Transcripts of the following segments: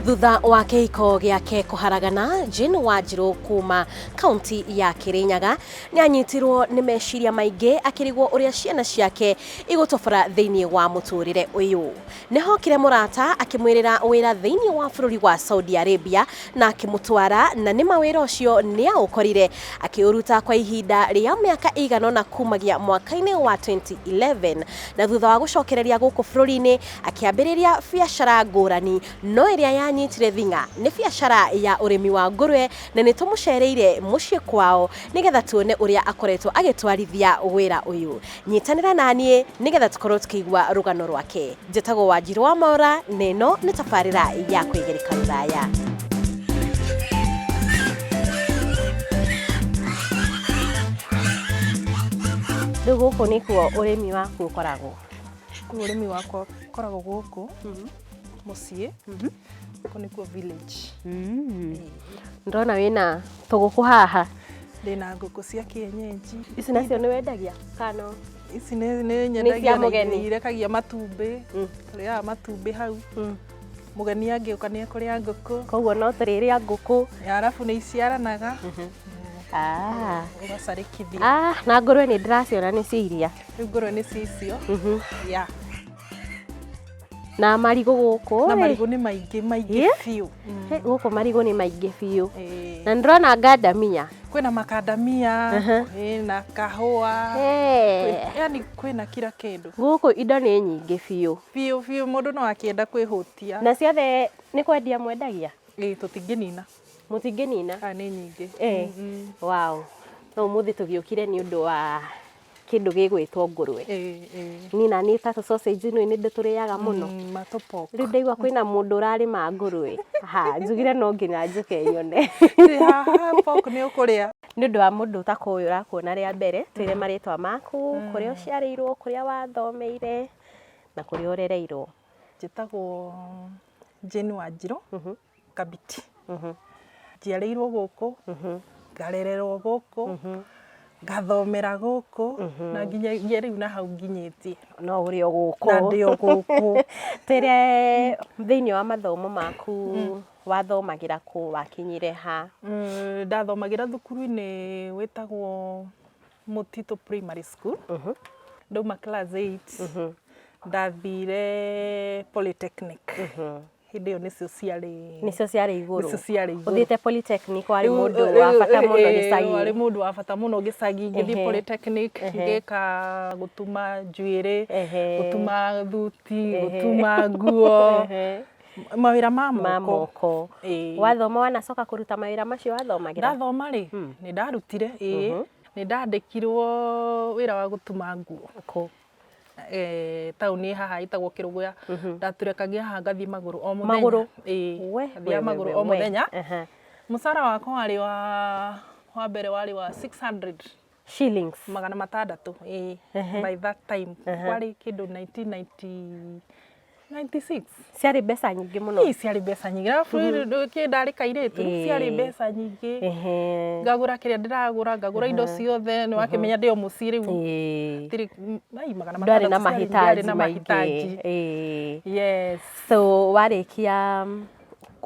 thutha wa kĩhiko gĩake kũharagana Jane Wanjirũ kuma kaunti ya Kĩrĩnyaga nĩ anyitirwo nĩ meciria maingĩ akĩrigwo ũrĩa ciana ciake igũtobora thĩinĩ wa mũtũrĩre ũyũ Nĩ hookire mũrata akĩmwĩrĩra wĩra thĩinĩ wa bũrũri wa Saudi Arabia na akĩmũtwara, na nĩ ma wĩra ũcio nĩ aũkorire. Akĩũruta kwa ihinda rĩa mĩaka ĩigana ũna kuumagia mwaka-inĩ wa 2011, na thutha wa gũcokereria gũkũ bũrũri-inĩ akĩambĩrĩria biacara ngũrani, no ĩrĩa yanyitire thing'a nĩ biacara ya ũrĩmi wa ngũrũe, na nĩ tũmũceereire mũciĩ kwao nĩgetha tuone ũrĩa akoretwo agĩtwarithia wĩra ũyũ. Nyitanĩra na niĩ nĩgetha tũkorwo tũkĩigua rũgano rwake. Njĩtagwo Wanjirũ wa Mora na ĩno nĩ tabarĩra ya kwĩgereka rũraya. Rĩu gũkũ nĩkuo ũrĩmi waku ũkoragwo? Rĩu ũrĩmi wakwa ũkoragwo gũkũ mũciĩ. Gũkũ nĩkuo village. Mm. Ndona wĩna tũgũkũ haha. Ndĩna ngũkũ cia kĩenyenji. Ici nacio nĩ wendagia kana Ici nĩ nĩ nyendagia na mũgeni. iria irekagia matumbĩ. Mm. Tũrĩaga matumbĩ hau. Mm. Mũgeni angĩũka nĩ ekũrĩa ngũkũ. koguo no tũrĩrĩa ngũkũ. Ya, Arabu nĩ iciaranaga. Ah. Ũgacarĩkithia. Ah, na ngũrwe nĩ ndĩraciona nĩ cia iria. Rĩu ngũrwe nĩ cicio. Mhm. Ya. na marigũ gũkũ na marigũ nĩ maingĩ maingĩ yeah. biũ mm. gũkũ marigũ nĩ maingĩ biũ eh. na ndĩrona ngandamia kwĩna makandamia uh -huh. kwĩna kahũa yeah. yani kwĩna kira kĩndũ gũkũ indo nĩ nyingĩ biũ biũ biũ mũndũ no akĩenda kwĩhũtia na ciothe nĩ kwendia mwendagia ĩĩ tũtingĩnina mũtingĩnina nĩ nyingĩ eh. mm -hmm. wow no mũthĩ tũgĩũkire nĩ ũndũ wa kĩndũ gĩgwĩtwo ngũrwe niĩ na niĩ ta sausage nĩ ndĩ tũrĩaga mũno mm, rĩu ndaigua kwĩna mũndũ ũrarĩma ngũrwe ha njugire no nginya njũke nyone nĩ ũndũ wa mũndũ ũtakũĩ ũrakuona rĩa mbere twĩre mm. marĩtwa maku mm. kũrĩa ũciarĩirwo kũrĩa wathomeire na kũrĩa ũrereirwo njĩtagwo Jane Wanjirũ mhm. Kabiti. Njiarĩirwo gũkũ, ngarererwo gũkũ, ngathomera gũkũ, na nginyagia rĩu na hau nginyĩtie. No ũrĩ o gũkũ. Na ndĩ o gũkũ. Tere thĩinĩ wa mathomo maku wathomagĩra kũ, wakinyire ha? Ndathomagĩra thukuru-inĩ wĩtagwo Mũtitũ Primary School. Ndauma class eight, ndathire Polytechnic. hĩndĩ ĩyo nĩcio ciarĩ nĩcio ciarĩ igũrũ nĩcio ciarĩ igũrũ ũthiĩte polytechnic warĩ Rĩu- mũndũ rĩu- wa bata mũno eh, gĩcagi warĩ mũndũ wa bata mũno gĩcagi ngĩthiĩ Ehe. polytechnic Ehe. ngĩka gũtuma njuĩrĩ Ehe. gũtuma thuti Ehe. gũtuma nguo Ehe. mawĩra ma ma moko moko Ĩĩ. wathoma wanacoka kũruta mawĩra macio wathomagĩra ndathoma rĩ nĩ ndarutire ĩĩ nĩ ndandĩkirwo wĩra wa gũtuma nguo kũ eh, taũni ĩ haha ĩtagwo kĩrũgũya ndatũrekagia haha ngathi magũrũ o mũthenya Magũrũ? Ĩĩ, We, we, ngathiaga we, magũrũ we, o we. mũthenya Aha. mũcara wakwa warĩ wa wa mbere warĩ wa 600 shillings magana matandatũ ĩĩ, by that time kwarĩ kĩndũ 1990 96 ciarĩ mbeca nyingĩ mũno Ii, ciarĩ mbeca nyingĩ arabu kĩ ndarĩ kairĩtu Ĩĩ. ciarĩ mbeca nyingĩ Ehe. ngagũra kĩrĩa ndĩragũra ngagũra indo ciothe nĩ wakĩmenya ndĩ o mũciĩ rĩu Ĩĩ. ndirĩ- m- ai, magana ndwarĩ na matandatũ ciarĩ- ndwarĩ mahitaji na maingĩ mahitaji Ĩĩ. yes so warĩkia mm,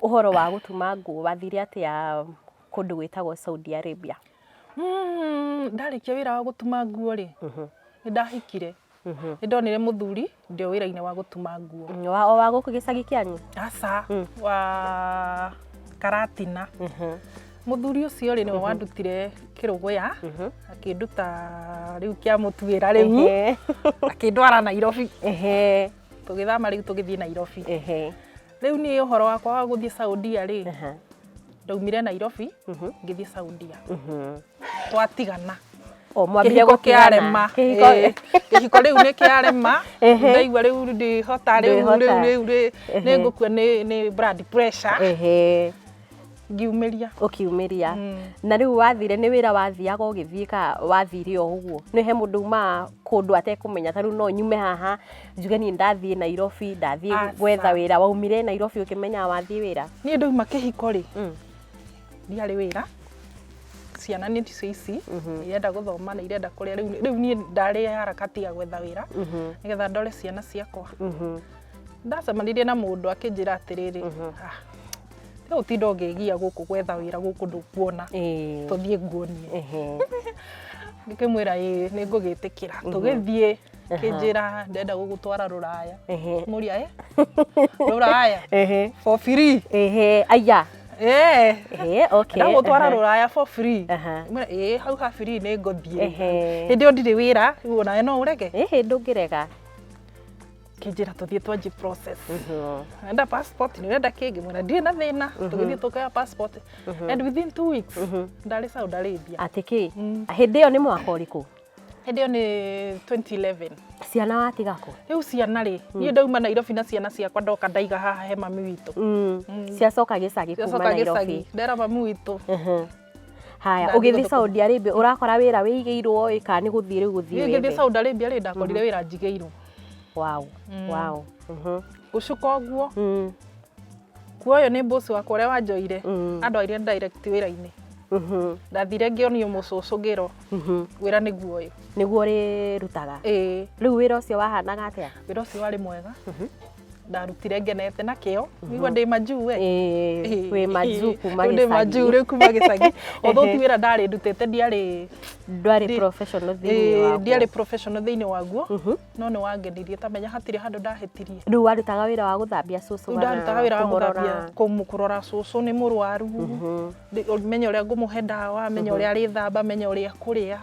ũhoro wa gũtuma nguo wathire atĩa kũndũ gwĩtagwo saudi arabia Mm, ndarĩkia wĩra wa gũtuma nguo rĩ nĩ ndahikire Mhm. nĩ ndonire mũthuri ndĩ o wĩra-inĩ wa gũtuma nguo Mm, wa- o wa gũkũ gĩcagi kĩanyu aca Mm. wa karatina Mhm, mũthuri ũcio rĩ nĩwe wandutire kĩrũgũya mhm. akĩnduta rĩu kĩa mũtuĩra rĩu Ehe, akĩndwara nairobi ehe, tũgĩthama rĩu tũgĩthiĩ nairobi ehe, rĩu niĩ ũhoro wakwa wa gũthiĩ saudia rĩ aha, ndaumire nairobi mhm, ngĩthiĩ saudia mhm. twatigana O mwambire kĩhiko gũtigana. kĩarema Kĩhiko. Ĩĩ, kĩhiko rĩu nĩ kĩarema Ehe. ndaigua rĩu ndĩhota rĩu Ndĩhota. rĩu rĩu rĩ- Ehe. nĩ ngũkua nĩ nĩ blood pressure Ehe, ngiumĩria ũkiumĩria Mm. na rĩu wathire nĩ wĩra wathiaga ũgĩthiĩ ka wathire o ũguo nĩ he mũndũ umaa kũndũ atekũmenya ta rĩu no nyume haha njuge niĩ ndathiĩ nairobi ndathiĩ Aca. gwetha wĩra waumire nairobi ũkĩmenyaga wathiĩ wĩra niĩ ndauma kĩhiko rĩ Mm. ndiarĩ wĩra ciana nĩ ticio ici irenda gũthoma na irenda kũrĩa rĩu rĩu niĩ ndarĩ harakati ya gwetha wĩra nĩgetha ndore ciana ciakwa ndacemanirie na mũndũ akĩnjĩra atĩrĩrĩ "Ah, rĩu ũtinda ũngĩgia gũkũ gwetha wĩra gũkũ ndũkuona Ĩĩ. tũthiĩ nguonie Ehe. ngĩkĩmwĩra ĩĩ nĩ ngũgĩtĩkĩra tũgĩthiĩ kĩnjĩra ndenda gũgũtwara rũraya Ehe. mũria eh? rũraya Ehe. for free Ehe. Aya. eh Ehe. Okay. ndagũtwara Aha. rũraya for free Aha. Mwĩra, ĩĩ hau ha free nĩ ngũthiĩ Ehe. hĩndĩ ĩyo ndirĩ wĩra rĩu onawe no ũrege Ehe, ndũngĩrega. kĩnjĩra tũthiĩ twanji process Mhm. enda passport nĩ wenda kĩngĩ mwĩra ndirĩ na thĩna tũgĩthiĩ tũkaya passport and within two weeks ndarĩ Saudi Arabia Atĩ kĩ? Mm. Hĩndĩ ĩyo nĩ mwaka ũrĩkũ? Hĩndĩ ĩyo nĩ 2011. Ciana watiga kũ? Rĩu ciana rĩ, hmm. niĩ ndauma Nairobi na ciana ciakwa ndoka ndaiga haha he mami witũ. Hmm. Hmm. Ciacoka gĩcagi kuma Nairobi. Ndera mami witũ. Haya, ũgĩthiĩ Saudi Arabia ũrakora wĩra wĩigĩirwo ĩ kana nĩ gũthiĩ rĩu gũthiĩ wĩra? Ngĩthiĩ Saudi Arabia rĩ ndakorire wĩra njigĩirwo. Wow, wow. Gũcuka ũguo. Kuoyo nĩ boss wakwa ũrĩa wanjoire mm. andwarire direct wĩra-inĩ mhm. ndathire ngĩonio mũcũcũ ngĩrwo mhm. wĩra nĩguo ũyũ nĩguo ũrĩrutaga rĩu wĩra ũcio wahanaga atĩa wĩra ũcio warĩ mwega mhm. ndarutire ngenete na kĩo nĩguo ndĩ majuu we wĩ majuu kuma gĩcagi ndĩ majuu rĩu kuma gĩcagi although ti wĩra ndarĩ ndutĩte ndiarĩ ndwarĩ professional thĩinĩ waguo ndiarĩ professional thĩinĩ waguo no nĩ wangenirie tamenya hatirĩ handũ ndahĩtirie rĩu warutaga wĩra wa gũthambia cũcũ Rĩu ndarutaga wĩra wa gũthambia kũmũ- kũrora cũcũ nĩ mũrwaru Ndĩ- menye ũrĩa ngũmũhe ndawa menye ũrĩa arĩthamba menye ũrĩa kũrĩa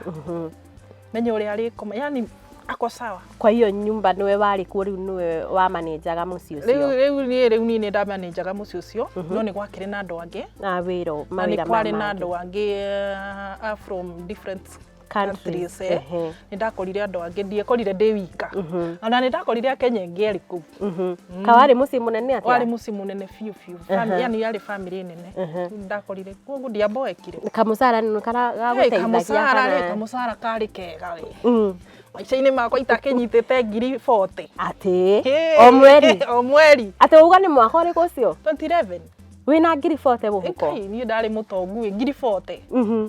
menye ũrĩa arĩkoma yani ako sawa kwa hiyo nyumba nĩwe warĩ kuo rĩu nĩwe wamanenjaga mũciĩ rĩu ũcio rĩu niĩ rĩu niĩ nĩ ndamanenjaga mũciĩ ũcio no nĩ gwakĩrĩ na andũ angĩ na wĩra na nĩ mawĩra kwarĩ na maya andũ mangĩ angĩ eh, a from different countries eh, nĩ ndakorire andũ angĩ ndiekorire ndĩ wika ona nĩ ndakorire akenya ingĩ erĩ kũu ka warĩ mũciĩ mũnene warĩ atĩa mũciĩ mũnene biũ biũ Family- yani yarĩ bamĩrĩ nene ndakorire koguo ndiamboekire kamũcara nĩ kara- gagũteithagia kamũcara rĩ kana- kamũcara karĩ kega we Mm. maica-inĩ makwa itakĩnyitĩte ngiri 40 atĩ Hey, o mweri o mweri atĩ uga nĩ mwaka ũrĩkũ ũcio 2011 wĩna ngiri bote mũhuko Kai, niĩ ndarĩ mũtongu ĩ, ngiri 40 Mhm.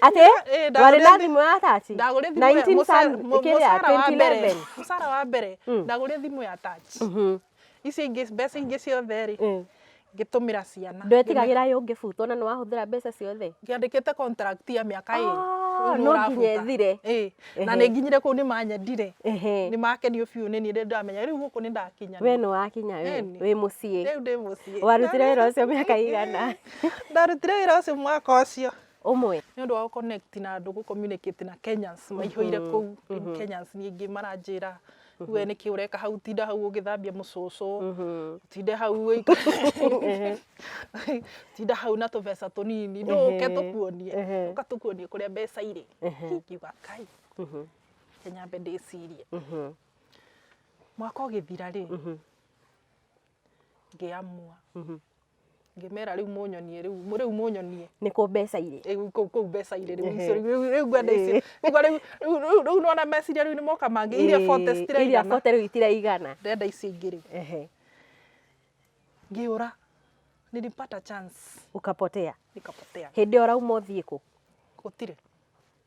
atĩ Eh, ndagũrire warĩ na thi- thimũ ya taci ndagũrire thimũ ya- 19 mũca- Sun- mu- kĩrĩa, mũcara wa mbere 2011. mũcara wa mbere Mm. ndagũrire thimũ ya touch Mhm. icio ingĩ mbeca ingĩ ciothe rĩ Mm. ngĩtũmĩra ciana ndwetigagĩra yũ ngĩbutwo na nĩ wahũthĩra mbeca ciothe ngĩandĩkĩte contract ya mĩaka Ah, ĩrĩ no nginya ĩthire. Ĩĩ, na Ehe. nĩ nginyire kũu nĩ manyendire Ehe. nĩ makenio biũ nĩ niĩ ndĩ ndamenya rĩu gũkũ nĩ ndakinya we nĩ wakinya we Ĩni. wĩ mũciĩ rĩu ndĩ mũciĩ warutire wĩra ũcio mĩaka igana ndarutire wĩra ũcio mwaka ũcio ũmwe nĩ ũndũ wa gũ connect na andũ gũ communicate na Kenyans maihũire kũu rĩu Kenyans niĩ ingĩ maranjĩra we nĩkĩ ũreka hau tinda hau ũgĩthambia mũcũcũ tinde hau ũikare- tinda hau na tũbeca tũnini ndũke tũkuonie Ehe. ũka tũkuonie kũrĩa mbeca irĩ ngiuga kai Kenya mbe ndĩcirie mwaka ũgĩthira rĩ ngĩamua ngĩmera rĩu mũnyonie rĩu rĩu mũnyonie nĩkũ mbeca irĩ Eh, rĩu kũu kũu mbeca irĩ rĩu icio rĩu rĩu- rĩu ngwenda icio rĩu rĩu- rĩu- rĩu- rĩu nona meciria rĩu nĩ moka mangĩ iria bote iria citiraigana bote rĩu itiraigana ndenda icio ingĩ rĩu Ehe. ngĩũra nilipata chance ukapotea nikapotea hĩndĩ ũrauma ũthiĩ kũ gũtirĩ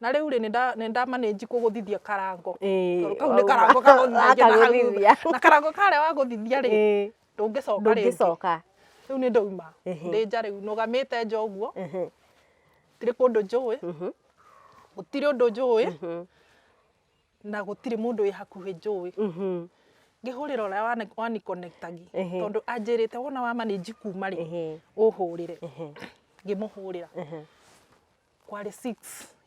Na rĩu rĩ nĩ nda manage kũgũthithia karango tondũ kau nĩ karango kagũthithagia na hau thutha na karango karĩa wagũthithia rĩ ndũngĩcoka rĩngĩ rĩu nĩ ndauma ndĩ nja rĩu nũgamĩte nja ũguo gũtirĩ kũndũ njũĩ gũtirĩ ũndũ njũĩ na gũtirĩ mũndũ wĩ hakuhĩ njũĩ ngĩhũrĩra ũrĩa wa ni connect agia tondũ anjĩrĩte wona wa manage kuma rĩ ũhũrĩre ngĩmũhũrĩra. kwarĩ six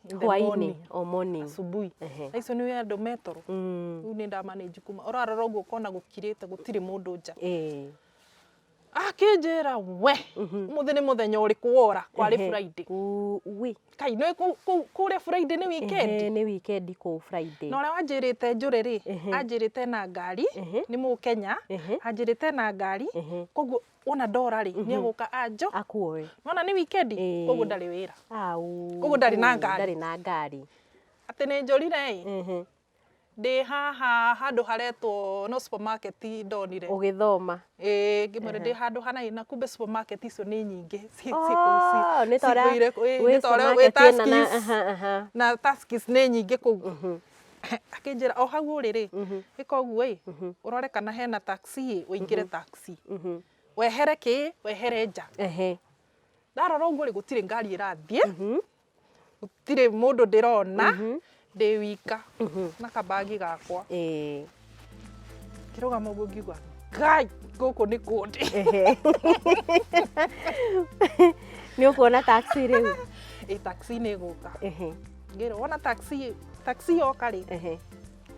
in the hwainĩ morning, o morning asubuhi Ehe. na icio nĩ andũ metoro Mm, rĩu nĩ ndamanĩnji kuma ũrarora ũguo ũkona gũkirĩte gũtirĩ mũndũ nja eh, akĩnjĩra we mũthĩ nĩ mũthenya ũrĩkũ wora kwarĩ ehe. friday Uu, ui. kai nĩ kũ- kũ- kũrĩa friday nĩ weekend Ehe, nĩ weekend kũu friday na ũrĩa wanjĩrĩte njũrĩ rĩ Ehe. anjĩrĩte na ngari Ehe. nĩ mũkenya Ehe. anjĩrĩte na ngari Ehe. koguo wona ndora rĩ nĩ egũka anjo akuoe nona nĩ wikendi Ĩĩ. koguo ndarĩ wĩra au Ũguo ndarĩ na ngari. ndarĩ na ngari atĩ nĩ njũrire ĩ Mhm. ndĩ haha handũ haretwo no supermarket ndonire ũgĩthoma Ĩĩ, ngĩmwĩra ndĩ handũ hana ĩ na kumbe supermarket icio nĩ nyingĩ Ci- ci- Oh, ci- nĩ ta ũrĩa- cigũire- ĩĩ, wĩ nĩ ta ũrĩa wĩ supermarket ĩna na- Tuskys. aha, aha. na Tuskys nĩ nyingĩ kũu Akĩnjĩra o hau ũrĩ rĩ, ĩka ũguo ĩ, ũrore kana hena taxi ĩ, ũingĩre taxi. Wehere kĩ, wehere nja. Ehe. Ndarora ũguo rĩ, gũtirĩ ngari ĩrathiĩ, gũtirĩ mũndũ ndĩrona, ndĩ wika na ka bag gakwa. Ĩĩ. kĩrũgamo ũguo ngiuga kai gũkũ nĩ kũndĩ Ehe. nĩ ũkuona taxi rĩu ĩ taxi nĩ ĩgũka Ehe, ngĩrwo wona taxi taxi yoka rĩ ehe,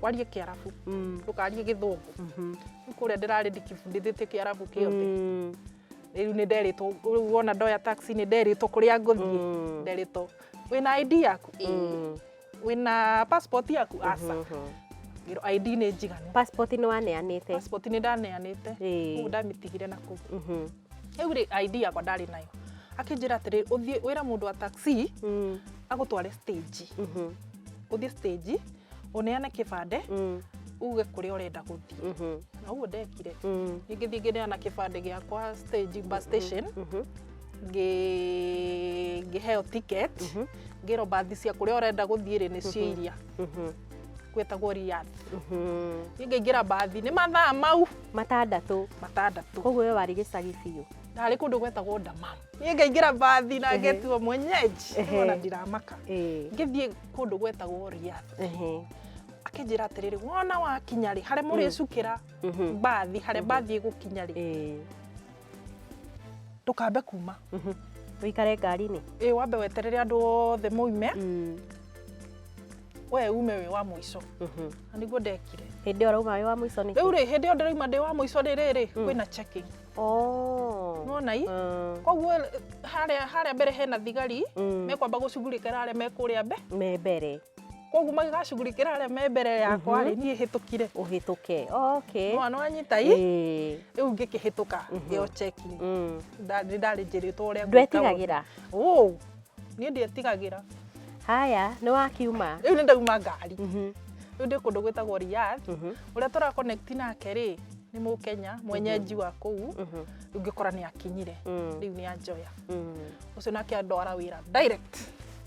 warie kĩarabu mm, ndũkarie gĩthũngũ mhm, Rĩu kũrĩa ndĩrarĩ ndikibundithĩtie kĩarabu kĩothe mm, rĩu nĩ nderĩtwo rĩu wona ndoya taxi nĩ nderĩtwo kũrĩa ngũthiĩ Mm. nderĩtwo wĩna ID yaku Ĩĩ. mm, wĩna passport yaku aca ngĩrwo ID nĩ njiganu passport nĩ waneanĩte passport nĩ ndaneanĩte Ĩĩ. kũu ndamĩtigire na kũu Mhm. rĩu rĩ ID yakwa ndarĩ nayo akĩnjĩra atĩrĩ ũthiĩ wĩra mũndũ wa taxi Mm, agũtware stage mhm, ũthiĩ stage ũneane kĩbandĩ mm, uge kũrĩa ũrenda gũthiĩ mhm, na ũguo ndekire mm, ningĩ thiĩ ngĩneana kĩbandĩ gĩakwa stage bus station mhm. ngĩ- ngĩheo ticket Mhm. ngĩrwo mbathi cia kũrĩa ũrenda gũthiĩ rĩ nĩ cia iria Mhm. gwĩtagwo Riyadh Mhm. niĩ ngĩingĩra mbathi nĩ mathaa mau matandatũ matandatũ koguo we warĩ gĩcagi biũ ndarĩ kũndũ gwetagwo Dammam niĩ ngaingĩra mbathi na Ehe. ngetua mwenyeji Ehe. ona ndiramaka Ĩĩ. ngĩthiĩ kũndũ gwetagwo Riyadh Ehe. akĩnjĩra atĩrĩrĩ wona wakinya rĩ harĩa mũrĩcukĩra Mhm. mbathi harĩa mbathi ĩgũkinya rĩ Ĩĩ. ndũkambe kuma Ũikare ngari-inĩ. ĩ wambe weterere andũ othe moime Mm. we ume wĩ wa mũico Mhm. na nĩguo ndekire Hĩndĩ ĩyo ũrauma wĩ wa mũico nĩkĩ? rĩu rĩ hĩndĩ ĩyo ndĩrauma ndĩ wa mũico rĩrĩrĩ Mm. kwĩna checking Oh. Nĩwona ii? Mm. koguo harĩa harĩa mbere hena thigari Mm. mekwamba gũcugurĩkĩra arĩa mekũrĩa mbe Me mbere. koguo magĩgacugurikĩra arĩa me mbere yakwa rĩ niĩ hĩtũkire ũhĩtũke okay mwana wanyita i Ĩĩ. rĩu ngĩkĩhĩtũka ĩyo cheki Mm. nda- nĩ ndarĩ njĩrĩtwo ũrĩa ndwetigagĩra Ũũ, niĩ ndietigagĩra haya nĩ wakiuma rĩu nĩ ndauma ngari Mhm, rĩu ndĩ kũndũ gwĩtagwo Riyadh mhm, ũrĩa tũra connect nake rĩ nĩ mũkenya mwenyenji wa kũu mhm, rĩu ngĩkora nĩ akinyire mm, rĩu nĩ anjoya mm. ũcio nake andwara wĩra direct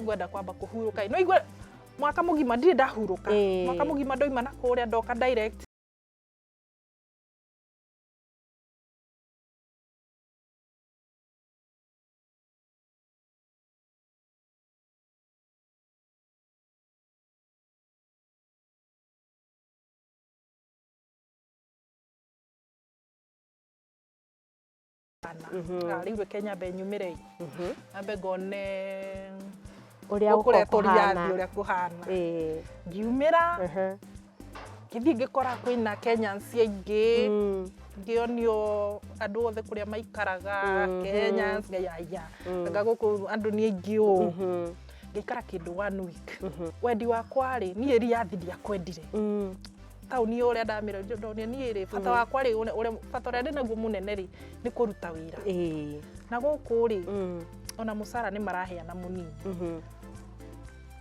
ngwenda kwamba kuhuruka no igwe mwaka mugima ndirĩ ndahuruka Ĩĩ. mwaka mugima ndoima na kũrĩa ndoka direct rĩu reke nyambe nyumĩre nyambe ngone ũrĩa kũrĩa tũriathi ũrĩa kũhana ngiumĩra ngĩthiĩ ngĩkora kwĩna kenyans aingĩ ngĩonio andũ othe kũrĩa maikaraga kenyans ngaiya anga gũkũ andũ nĩ aingĩ ũũ ngĩikara kĩndũ one week wendi wakwa rĩ niĩ riathi ndiakwendire taũni yo ũrĩa ndamĩra ndonire niĩ rĩ bata Mm. wakwa rĩ ũrĩa- ũrĩa- bata ũrĩa ndĩ naguo mũnene rĩ nĩ kũruta wĩra Ĩĩ. na gũkũ rĩ Mm. ona mũcara nĩ maraheana mũnini Mhm.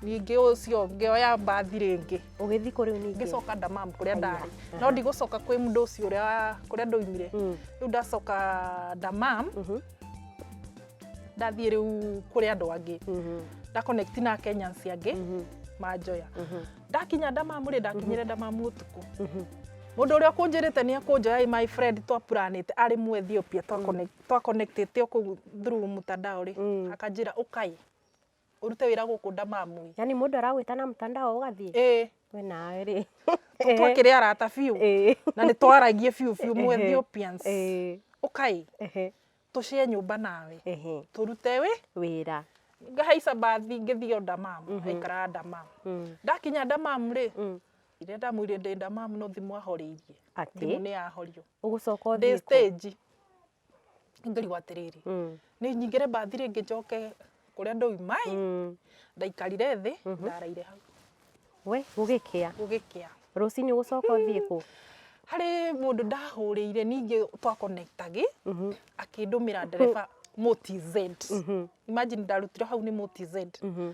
ningĩ ũcio ngĩoya mbathi rĩngĩ Ũgĩthiĩ kũ rĩu ningĩ? ngĩcoka ndamam kũrĩa Aya. ndarĩ Aha. no ndigũcoka kwĩ mũndũ ũcio ũrĩa wa- kũrĩa ndoimire Mm. rĩu ndacoka ndamam Mhm. ndathiĩ rĩu kũrĩ andũ angĩ Mhm. nda connect na Kenyans angĩ Mhm. manjoya Mhm. ndakinya ndamamu rĩ ndakinyire ndamamu ũtukũ mũndũ ũrĩa ũkũnjĩrĩte nĩ ekũnjoya ĩ my friend twapuranĩte arĩ mu ethiopia twaconnect- twaconnectĩte o kũu through mutandao rĩ Mm. akanjĩra ũkai ũrute wĩra gũkũ ndamamu yani mũndũ aragwĩta na mtandao ũgathiĩ ĩ we nawe rĩ twakĩrĩ arata biũ Ĩĩ. na nĩ twaragie biũ biũ mu Ehe. ethiopians Ĩĩ. ũkai Ehe. tũcĩe nyũmba nawe tũrute wĩ wĩra ngahaica mbathi ngĩthiĩ o Damam mm -hmm. aikara Damam mm. ndakinya Damam rĩ mm. iria ndamwĩrire ndĩ Damam no thimũ ahorĩirie thimũ nĩ yahorio ũgũcoka ũthiĩ stage ngĩrigwo atĩrĩrĩ mm. nĩ nyingĩre mbathi rĩngĩ njoke kũrĩa ndauma ĩ Mm. ndaikarire thĩ ndaraire hau we gũgĩkĩa gũgĩkĩa rũcinĩ gũcoka ũthiĩ kũ harĩ mũndũ ndahũrĩire ningĩ twakonekitagĩ Mhm. akĩndũmĩra ndereba motz Mhm. imagine ndarutire hau nĩ motz Mhm.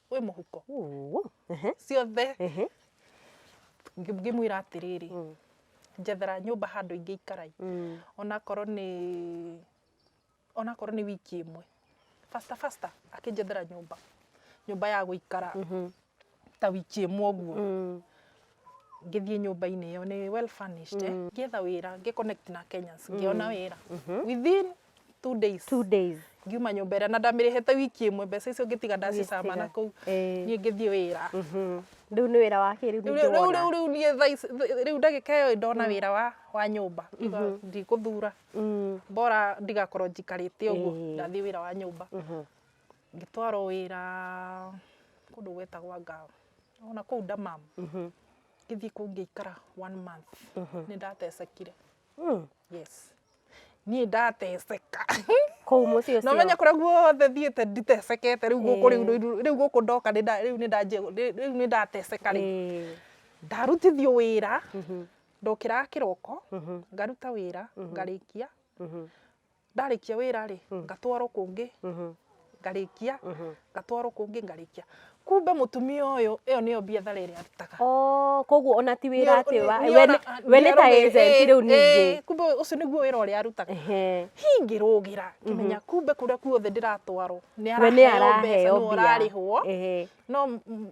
wĩ mũhuko Ũũ, ehe, ciothe ehe, Ngĩ- ngĩmwĩra atĩrĩrĩ mm, njethera nyũmba handũ ingĩ ikaraĩ mm, onakorwo nĩ onakorwo nĩ wiki ĩmwe fasta fasta akĩnjethera nyũmba nyũmba ya gũikara mhm, ta wiki ĩmwe ũguo mm, ngĩthiĩ nyũmba-inĩ ĩyo nĩ well furnished eh, ngĩetha wĩra ngĩ connect na Kenyans ngĩona wĩra within two days two days ngiuma nyũmba ĩrĩa na ndamĩrĩhĩte wiki ĩmwe mbeca icio ngĩtiga ndacicama na kũu Eh. niĩ ngĩthiĩ wĩra rĩu nĩ wĩra wa kĩrĩu Rĩu- rĩu- ningĩ wona rĩu- rĩu niĩ thaa ici- th- rĩu ndagĩka ĩyo ndona wĩra wa wa nyũmba ngiuga ndikũthura Mm. bora ndigakorwo njikarĩte ũguo Ĩĩ. ndathiĩ wĩra wa nyũmba ngĩtwarwo wĩra kũndũ gwetagwa ngao Ona kũu Damam ngĩthiĩ kũu ngĩikara one month nĩ ndatecekire. Yes. Niĩ ndateceka. Kũu mũciĩ ũcio. Na ũmenye kũrĩa guothe thiĩte nditecekete rĩu gũkũ rĩu rĩu- rĩu gũkũ ndoka nĩ nda- rĩu nĩ ndanjia- rĩ- rĩu nĩ ndateceka rĩ. Ĩĩ. Ndarutithio wĩra ndokĩraga kĩroko ngaruta wĩra ngarĩkia ndarĩkia wĩra rĩ Mm. ngatwarwo kũngĩ Mhm. ngarĩkia Mhm. ngatwarwo kũngĩ ngarĩkia kumbe mũtumia ũyũ ĩyo nĩyo biathara ĩrĩa arutaga Oh, koguo ona ti wĩra Nĩ- atĩ wa- nĩ- we nĩ- nĩona- we nĩ ta nĩarũmĩrĩra- agent eh, rĩu ningĩ eh, kumbe ũcio nĩguo wĩra ũrĩa arutaga Ehe. hingĩrũgĩra kĩmenya kumbe kũrĩa kuothe ndĩratwarwo nĩ we nĩ araheo mbeca araheo nĩ mbia ũrarĩhwo Ehe. no m- m-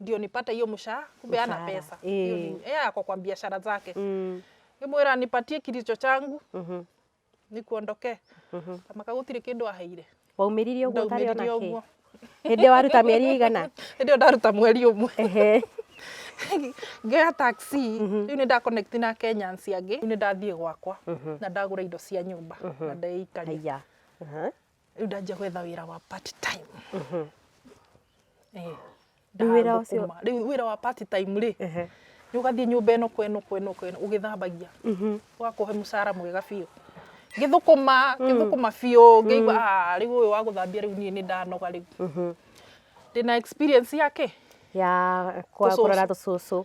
ndio nipate hiyo mshahara kumbe ana Mshahara, pesa eh. Hiyo ni- eh, ako kwa biashara zake Mm. ngimwira nipatie kilicho changu Mhm. nikuondokee Mhm. kamaka gutire kindu aheire waumĩrire ũguo ũtarĩ ona ndaumĩrire kĩ ũguo hĩndĩ ĩyo waruta mĩeri igana hĩndĩ ĩyo ndaruta mweri ũmwe Ehe. ngea taxi rĩu nĩ ndakonekti na kenyans angĩ rĩu nĩ ndathiĩ gwakwa na ndagũra indo cia nyũmba na ndeikaria Haiya. Aha. rĩu ndanjia gwetha wĩra wa part time Eh, Rĩu wĩra ndathũkũma. ũcio- Rĩu wĩra wa part time rĩ Ehe. nĩ ũgathiĩ nyũmba ĩno kwa ĩno kwa ĩno kwa ĩno ũgĩthambagia ũgakũhe mũcara mwega biũ ngĩthũkũma ngĩthũkũma biũ ngĩigua "Ah, rĩu ũyũ wa gũthambia rĩu niĩ nĩ ndanoga rĩu ndĩna experience yake ya kwa- Tũcũcũ. kũrora tũcũcũ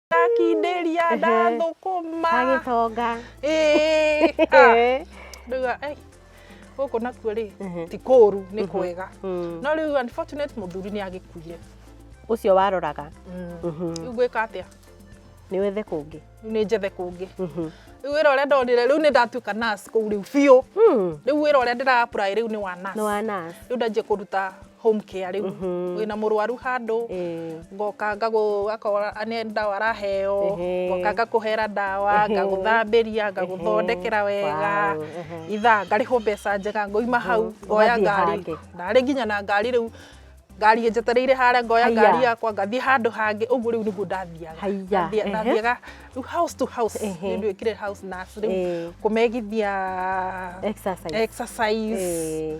ndakindĩria ndathũkũma agĩtonga Ĩĩ, ah, ndauga "Ei, gũkũ nakuo rĩ Mhm. ti kũru nĩ kwega Mm. no rĩu unfortunate mũthuri nĩ agĩkuire ũcio waroraga Mhm. rĩu gwĩka atĩa nĩ wethe kũngĩ rĩu nĩ njethe kũngĩ Mhm. rĩu wĩra ũrĩa ndonire rĩu nĩ ndatuĩka nurse kũu rĩu biũ Mm. rĩu wĩra ũrĩa ndĩra apply rĩu nĩ wa nurse nĩ wa nurse. rĩu ndanjia kũruta home care rĩu Mhm. wĩna mũrwaru handũ Eh, ngoka ngagũ akora nĩ ndawa araheo Ehe. ngoka ngakũhera ndawa Ehe. ngagũthambĩria ngagũthondekera wega Wow, ehe. ithaa ngarĩhwo mbeca njega ngoima hau Mhm. ngoya Ũgathiĩ ngari hangĩ. ndarĩ nginya na ngari rĩu ngari ĩnjetereire harĩa ngoya Haiya. ngari yakwa ngathiĩ handũ hangĩ ũguo rĩu nĩguo ndathiaga Haiya, Ndathiĩ- ehe. ndathiaga rĩu house to house Ehe. nĩ ndwĩkire house nurse rĩu Eh. kũmegithia exercise. exercise Eh,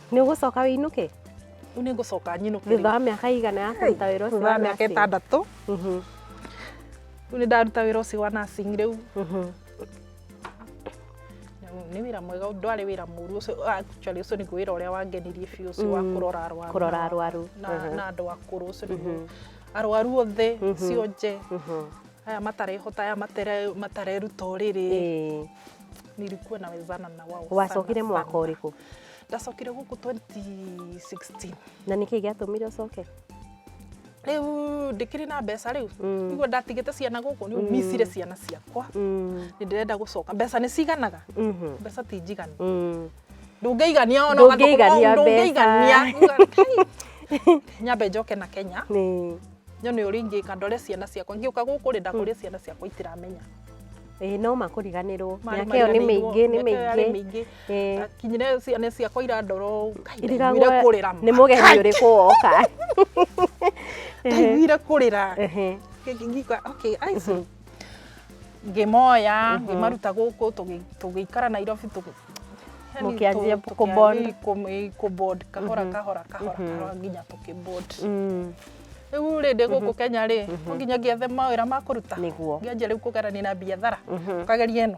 nĩ ũgũcoka wĩinũke rĩu nĩ ngũcoka nyinũke thutha wa mĩaka ĩigana ya kũruta wĩra ũcio thutha wa wa mĩaka nursing? ĩtandatũ Mhm, rĩu nĩ ndaruta wĩra ũcio wa nursing rĩu mhm. nĩ wĩra mwega ndwarĩ wĩra mũru ũcio actually ũcio nĩguo wĩra ũrĩa wangenirie biũ ũcio wa Mm, kũrora arwaru kũrora na- arwaru, na mhm. na andũ akũrũ ũcio nĩguo Mhm. arwaru othe Mhm. cio nje Mhm. aya matarehota aya matere- matareruta ũrĩrĩ Ĩĩ. nilikuwa nawezana na wao sana, wacokire mwaka sana. ũrĩkũ ndacokire gũkũ 2016 na nä kä gäatåmire å coke rä u ndä kä rä na mbeca rä u Mm. iguo ndatigä te ciana gå kå nä micire ciana ciakwa Mm, nä ndä renda gå coka mbeca nä ciganaga mhm, mbeca ti njiganu mm. ndungĩigania ona Ndũngĩigania ndungĩigania nyambe njoke na kenya Nĩ- nyone ũrĩa ingĩka ndore ciana ciakwa ngĩũka gũkũ rĩ ndakũria ciana ciakwa itiramenya ĩĩ no makũriganĩrwo Marĩ mĩaka ĩyo nĩ mĩingĩ nĩ mĩaka ĩyo yarĩ mĩingĩ mĩingĩ. Eh. akinyire ciana ciakwa irandoro irigagwo kurira ni mugeni uriku woka ndaiguire kurira ngĩka okay ice mhm. ngĩmoya mhm. ngĩmaruta gũkũ tũgĩikara nairobi mũkĩanjia kũbond kahora mhm. kahora kahora kahora nginya tũkĩbond mm. rĩu rä ndä gå kå kenya rä no nginya ngĩethe mawä ra ma kå ruta ngĩanjia rä u kå gerania na biathara kageria ä no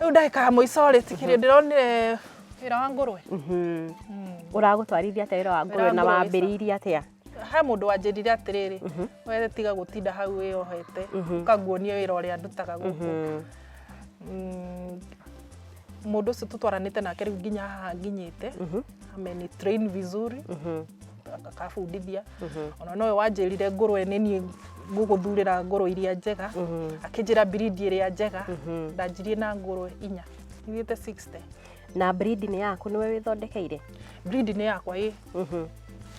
Rĩu ndagĩka ya mũico rĩ tikĩrĩ ndĩronire wĩra wa ngũrwe. Mhm. Ũragũtwarithia atĩa wĩra wa ngũrwe na ngũrwe sa- wambĩrĩirie atĩa? He mũndũ wanjĩrire atĩrĩrĩ we tiga gũtinda hau wĩyohete ũkanguonie wĩra ũrĩa ndutaga gũkũ. Mhm. Mm, Mũndũ ũcio tũtwaranĩte nake rĩu nginya haha nginyĩte ameni train vizuri Mhm. akabundithia ona nowe wanjĩrire ngũrwe nĩ niĩ ngũgũthurĩra ngũrwe iria njega akĩnjĩra birindi ĩrĩa njega ndanjirie na ngũrwe inya ithiĩte 60 na breed nĩ yaku nĩwe wĩthondekeire birindi nĩ yakwa ĩ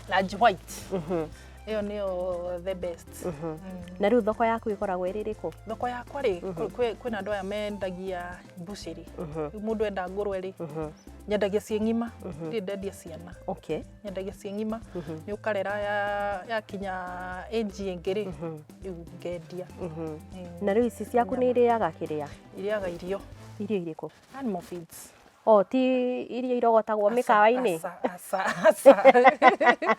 range white ĩyo nĩyo the best Mm. na rĩu thoko yaku ĩkoragwo ĩrĩ ĩrĩkũ thoko yakwa rĩ kwĩ- kwĩ- kwĩna andũ aya mendagia mbucĩrĩ rĩu mũndũ enda ngũrwe rĩ nyendagia ciĩ ng'ima ndirĩ ndendia ciana okay nyendagia ciĩ ng'ima nĩ ũkarera ya- yakinya ĩnji ĩngĩ rĩ rĩu ngendia Eh, na rĩu ici ciaku nĩ irĩaga kĩrĩa irĩaga irio irio irĩkũ animal feeds o ti iria irogotagwo mĩkawa-inĩ Aca, aca, aca.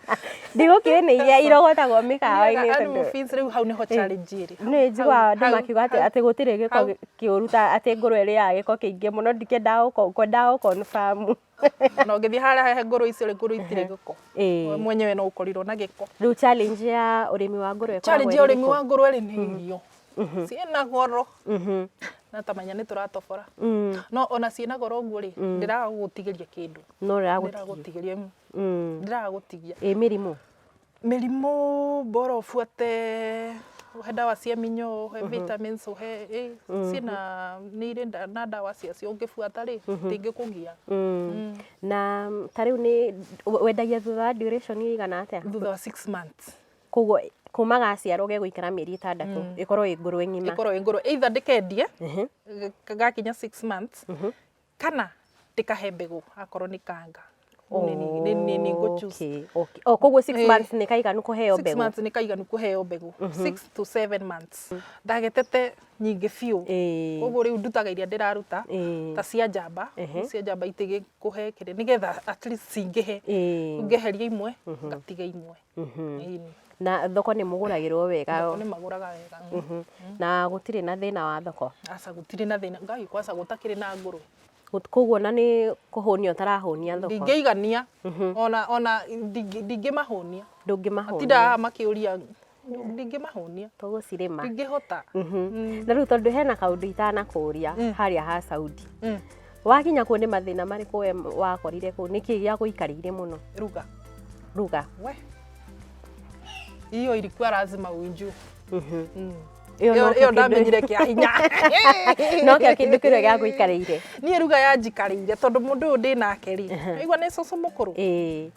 ndigũkĩrĩ nĩ iria irogotagwo mĩkawa-inĩ Irĩaga animal tondũ feeds rĩu hau nĩho challenge ĩrĩ nĩ njiguaga Hau- andũ hau- makiuga atĩ hau- atĩ gũtirĩ gĩko hau. kĩũru ta atĩ ngũrwe ĩrĩaga gĩko kĩingĩ mũno ndikĩendaga gũko- kwendaga gũkonfamu na ũngĩthiĩ harĩa hehe ngũrũ icio rĩ ngũrũ itirĩ gĩko Ĩĩ. we mwenyewe no ũkorirwo na gĩko Rĩu challenge ya ũrĩmi wa ngũrũwe ĩkoragwo challenge ya ĩrĩ ũrĩmi ĩrĩkũ? wa ngũrũwe rĩ nĩ irio ciĩna goro Mhm. na tamenya nĩ tũratobora Mm. no ona ciĩna goro ũguo rĩ ndĩraga gũgũtigĩria kĩndũ No rĩragũtigia. ndĩragũtigĩria Mm. ndĩraga gũtigia Ĩ mĩrimũ. Mĩrimũ bora ũbuate, ũhe ndawa cia mĩnyoo, ũhe vitamins, ũhe ĩ, ciĩna nĩ irĩ nda- na ndawa ciacio ũngĩbuata rĩ, ndĩngĩkũgia. Na ta rĩu nĩ we- wendagia thutha wa duration ĩigana atĩa? Thutha wa six months. Koguo kuma gaciarwo gegũikara mĩeri ĩtandatũ ĩkorwo ĩ ngũrũwe ng'ima. Ĩkorwo ĩ ngũrũ. Either ndĩkendie, Ehe. ga- gakinya six months, kana ndĩkahe mbegũ akorwo nĩ kanga Rĩu nĩ- nĩ- nĩ- nĩ- nĩ ngũ choose. Okay, okay. Oh, koguo six Eh. months nĩ kaiganu kũheo Six mbegũ months nĩ kaiganu kũheo mbegũ six to seven months ndagetete nyingĩ biũ Ĩĩ. koguo rĩu ndutaga iria ndĩraruta Ĩĩ. ta cia njamba Ehe. cia njamba itigĩ kũhe kĩrĩ nĩgetha at least cingĩhe Ĩĩ. ngeheria imwe ngatiga imwe Ĩni. na thoko nĩ mũgũragĩrwo wega Thoko nĩ magũraga wega. Mhm. na gũtirĩ na thĩna wa thoko Aca gũtirĩ na thĩna. Ngai kwaca gũtakĩrĩ na ngũrũwe. Gũt- koguo na nĩ kũhũnia ũtarahũnia thoko Ndingĩigania. Ona ona ndingĩ- ndingĩmahũnia. ndũngĩmahũnia Matindaga makĩũria ndingĩmahũnia. tũgũcirĩma Ndingĩhota. na rĩu tondũ hena kaũndũ itanakũria harĩa ha Saudi Mm. Wakinya kuo nĩ mathĩna marĩkũ we wakorire kũu? Nĩ kĩĩ gĩagũikarĩire mũno? Ruga. Ruga. We. Hiyo ilikuwa lazima uinjue. Mhm. Mm. Ĩyo Ĩyo nokĩo ĩyo kĩndũ- ndamenyire kĩa hinya. nokĩo kĩndũ kĩrĩa gĩagũikarĩire. Niĩ ruga yanjikarĩire tondũ mũndũ ũyũ ndĩ nake rĩ. Waigua nĩ cũcũ mũkũrũ. Ĩĩ,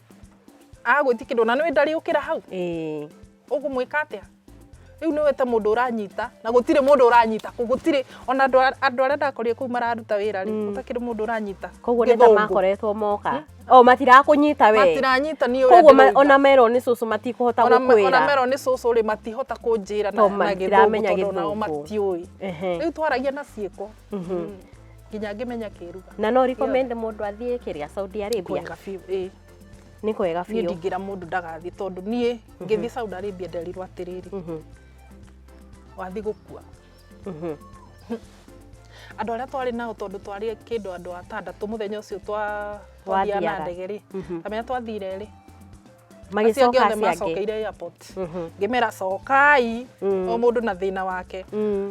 Agwĩti kĩndũ na nĩ ndariũkĩra hau. ĩĩ. Ũgũmwĩka atĩa? Rĩu nĩ wete mũndũ ũranyita na gũtirĩ mũndũ ũranyita kũ gũtirĩ ona andũ a- andũ arĩa ndakorire kũu mararuta wĩra rĩ gũtakĩrĩ mũndũ ũranyita koguo nĩ ta Gĩthũngũ. makoretwo moka o matirakũnyita we matiranyita niĩ ũrĩa koguo ma- ndĩrauga. ona merwo nĩ cũcũ matikũhota Ona me- ona gũkwĩra merwo nĩ cũcũ rĩ matihota kũnjĩra na Tondũ na matiramenya gĩthũngũ tondũ nao Gĩthũngũ. matiũĩ Ehe. rĩu twaragia na ciĩko nginya ngĩmenya kĩruga na no recommend mũndũ athiĩ kĩrĩa Saudi Arabia kwega biũ ĩĩ nĩ kwega niĩ biũ ndingĩra mũndũ ndagathiĩ tondũ niĩ ngĩthiĩ Saudi Arabia nderirwo atĩrĩrĩ Mhm, wathiĩ gũkua mhm. andũ arĩa twarĩ nao tondũ twarĩ kĩndũ andũ atandatũ mũthenya ũcio twa- twathiaga na Wathiaga. ndege rĩ Mhm. kamenya twathire rĩ acio angĩ magĩcoka othe aciangĩ macokeire airport first ngimera cokai o mundu na thina wake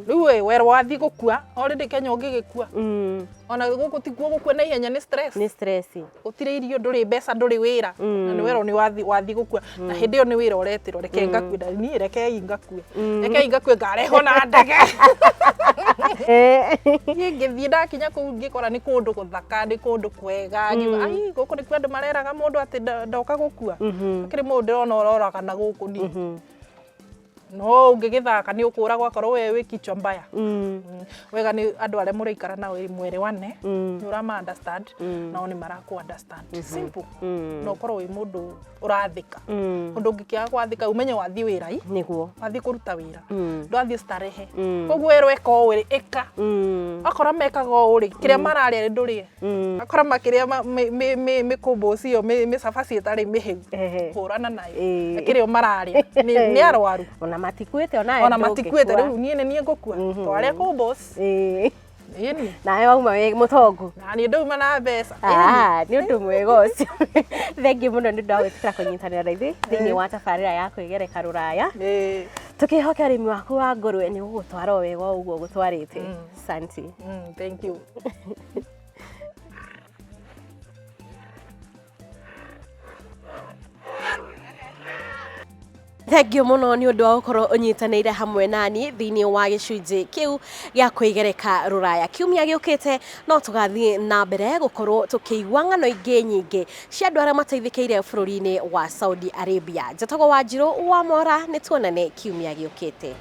riu we wero wathi gukua already kenya ungigikua Mm. ona guku tikuo gukua na ihenya ni stress nĩ stress gutire irio nduri mbeca nduri wira na ni wero ni wathi wathi gukua na hindi yo ni wira uretiro reke ngakue na ni reke ngakue reke ngakue ngareho na ndege Eh. niä ngä thiä ndakinya kå u ngä kora nä kå ndå gå thaka nä kå ndå wega ngiuga ai gũkũ nĩkuo andũ mareraga mũndũ atĩ ndo- ndoka gũkua akĩrĩ mũndũ ndĩrona ũroraga na gũkũ ni no ũngĩgĩthaka nĩ ũkũragwo akorwo we wĩ kichwa mbaya Mm, wega nĩ andũ arĩa mũraikara nao ĩ mwerewane nĩ ũrama understand nao nĩ marakũ understand simple na ũkorwo wĩ mũndũ ũrathĩka Mm. ũndũ ũngĩkĩaga gwathĩka umenye wathiĩ wĩra i Nĩguo. wathiĩ kũruta wĩra Mm. ndwathiĩ starehe Mm. koguo werwo eka ũũ rĩ ĩka Mm. akora mekaga ũũ rĩ kĩrĩa mararĩa rĩ ndũrĩe Mm. akora makĩrĩa ma- mĩ- mĩ- mĩ- mĩkũmbũ ũcio mĩ- mĩcabaci ĩtarĩ mĩhĩu Ehe. hũrana nayo Ĩĩ. akĩrĩa mararĩa Nĩ- nĩ arwaru Ona matikuĩte ona ona enda matikuĩte ũngĩkua. rĩu niĩ nĩ niĩ ngũkua Mhm. twarĩa kũmbũ ũcio Ĩĩ. Ĩĩ nĩ. nawe wauma wĩ mũtongu Na niĩ ndauma na mbeca. Ĩĩ nĩ. Ah, nĩ ũndũ mwega ũcio thengiũ mũno nĩ ũndũ wa gwĩtĩkĩra kũnyitanĩra na ithuĩ thĩinĩ wa tabarĩra ya kwĩgereka rũraya Ĩĩ. tũkĩhoke ũrĩmi waku wa ngũrwe nĩ gũgũtwara o wega o ũguo gũtwarĩte Mm. santi Mm, Thank you. Thengiũ mũno nĩ ũndũ wa gũkorwo ũnyitanĩire hamwe nani thĩinĩ wa gĩcunjĩ kĩu gĩa kwĩgereka rũraya kiumia gĩũkĩte no tũgathiĩ na mbere gũkorwo tũkĩigua ng'ano ingĩ nyingĩ cia andũ arĩa mateithĩkĩire bũrũri-inĩ wa Saudi Arabia njatagwo wanjirũ wa mora nĩ tuonane kiumia gĩũkĩte